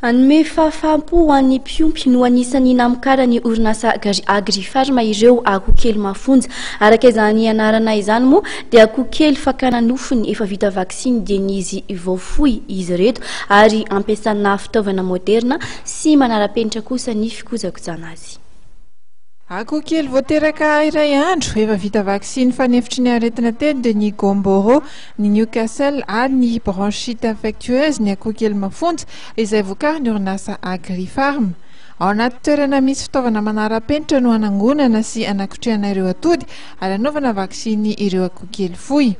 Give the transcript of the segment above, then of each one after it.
Hanome fahafaham-po ho an'ny mpiompy no anisan'ny namokaran'ny orinasa Gary Agri Farma ireo akoho kely mafonja. Araka izany anarana izany moa dia akoho kely fakana nofony efa vita vaksiny dian'izy vao foy izy ireto ary ampiasana fitaovana moderina sy manara-penitra kosa ny fikojakojana azy. Akoho kely vao teraka iray andro efa vita vaksiny fanefitry ny aretina telo dia ny Gomboro. ny Newcastle ary ny bronchite infectueuse, ny akoho kely mafonja, izay vokarin'ny orinasa Agrifarm. Ao anaty toerana misy fitaovana manara-penitra no hanangonana sy hanakotrehana ireo atody ary hanaovana vaksiny ireo akoho kely fohy.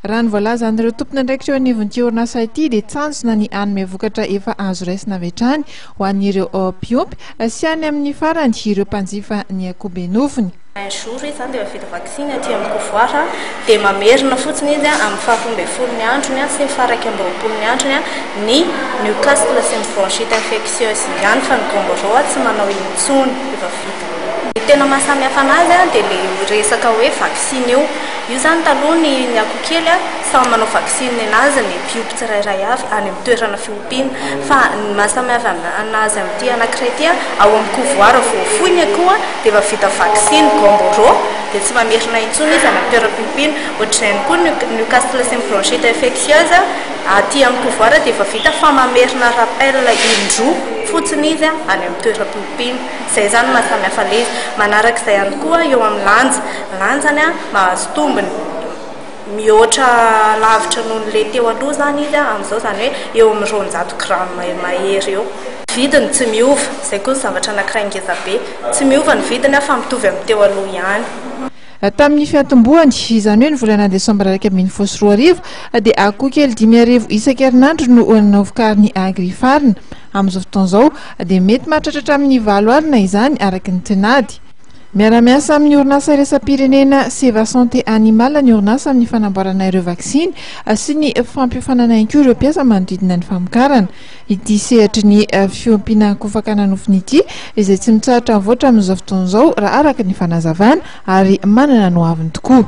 Raha ny voalazan'ireo tompon'andraikitra eo anivon'ity orinasa ity dia tanjona ny hanome vokatra efa azo raisina avy hatrany ho an'ireo mpiompy sy any amin'ny farany ireo mpanjifa ny akoho be nofony. Un jour izy zany dia efa vita vaksiny aty amin'ny pouvoir dia mamerina fotsiny izy amin'ny faha roa ambin'ny folo ny androny sy ny faha iraika amby roapolo ny androny ny Newcastle sy ny bronchite infectieuse ihany fa ny Gumboro tsy manao intsony efa vita. Ny tena maha samy hafa anazy dia ilay resaka hoe vaksiny io. Io zany taloha ny ny akoho kely samy manao vaksiny ny anazy ny mpiompy tsirairay avy any amin'ny toerana Pin. Fa ny maha samy hafa anazy amin'ity anankiray ity, ao amin'ny kovoara vao foiny akoa dia efa vita vaksiny, Gumboro, dia tsy mba merina intsony izy any amin'ny toeram-piompina. Ohatr'izay ihany koa ny Newcastle sy ny bronchite infectieuse, aty amin'ny kovoara dia efa vita fa mamerina rappel indroa fotsiny izy any amin'ny toeram-piompina. Izay izany no maha samy hafa an'ilay izy. Manaraka izay ihany koa eo amin'ny lanja, ny lanjany mahazo tombony. mihoatra lavitra noho ny le teo aloha izany izy amin'izao, izany hoe eo amin'ny roanjato grammes eo mahery eo. Vidiny tsy miova, izay koa ny zavatra anankiray ngeza be. Tsy miova ny vidiny fa mitovy amin'ny teo aloha ihany. Tamin'ny fiantombohany, izany hoe ny volana desambra iraika ambin'ny folo sy roa arivo, dia akoho kely dimy arivo isan-kerinandro no novokarin'ny Agrifarina. Amin'izao fotoana izao, dia mety mahatratra hatramin'ny valo alina izany, araka ny tinady. Miara-miasa amin'ny orinasa iraisam-pirenena Seva Santé Animal ny orinasa amin'ny fanamboarana ireo vaksiny sy ny fampiofanana ihany koa ireo mpiasa manodidina ny famokarana ity sehatry ny eh, fiompiana akoho fakana nofony ity izay tsy mitsahatra mivoatra amin'izao fotoana izao raha araka ny fanazavana ary manana ny hoaviny tokoa.